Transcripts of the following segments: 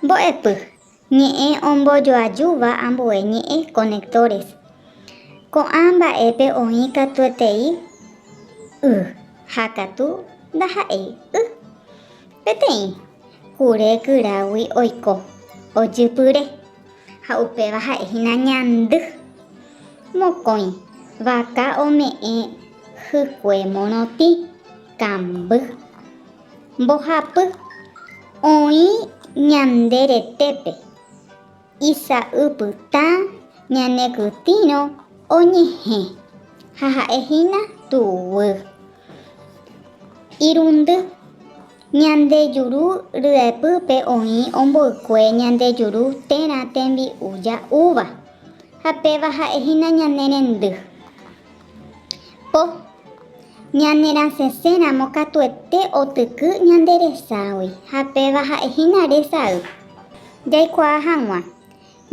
Mbo'epy, ñe'ẽ ombojoajúva ambue ñe'ẽ, conectores. Ko'ã mba'épe oĩ katuetei y ha katu ndaha'éi y. Peteĩ kure kyrágui oiko, ojypyre, ha upéva ha'e hína ñandy. Mokõi vaka ome'ẽ hykue morotĩ, kamby. Mbohapy oĩ ñande retépe, isa'ypytã ñane kytĩrõ oñehẽ, ha ha'e hína tuguy. Irundy, ñande juru ryepýpe oĩ omboykue ñande juru térã tembi'u ja'úva, ha péva ha'e hína ñane rendy. Po. Ñanerasẽse ramo katuete otyky ñande reságui, ha péva ha'e hína resay. Jaikuaa hag̃ua.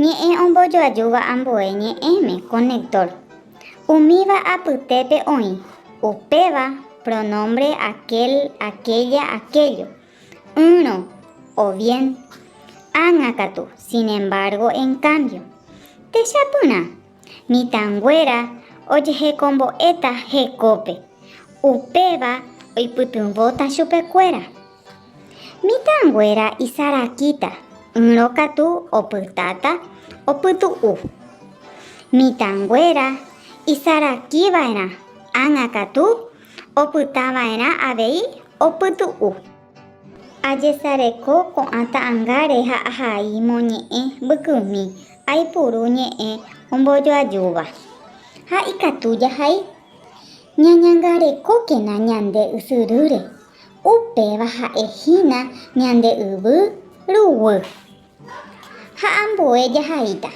Ñe'ẽ ombojoajúva ambue ñe'ẽme, conector. Umíva apytépe oĩ, upéva, pronombre aquel, aquella, aquello. Ỹrõ, o bien. Ág̃a katu, sin embargo, en cambio. Techapyrã, Mitãnguéra ojehekombo'éta hekópe, upéva oipytyvõta chupekuéra. Mitãnguéra isarakíta, ỹrõ katu opytáta opytu'u. Mitãnguéra isarakiva'erã ág̃a katu opytava'erã avei opytu'u. Ajesareko ko'ã ta'angáre ha ahai moñe'ẽ mbykymi, aipuru ñe'ẽ ombojoajúva. Ha ikatu jahai ñañangarekókena ñande ysyrýre, upéva ha'e hína ñande yvy ruguy. Ha ambue jahaíta.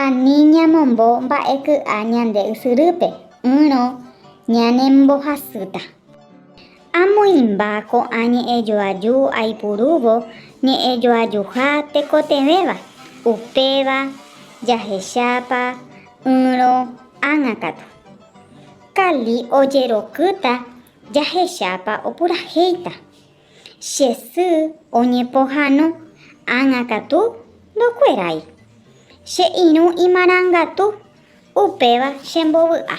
Ani ñamombo mba'e ky'a ñande ysyrýpe, ỹrõ ñanembohasýta. Amoĩmba ko'ã ñe'ẽjoaju aipurúvo ñe'ẽjoajuha tekotevẽva, upéva jahechápa ỹrõ ág̃a katu. Kali ojerokýta jahechápa opurahéita. Che sy oñepohãno ág̃a katu ndokuerái. Che irũ imarangatu, upéva chembovy'a.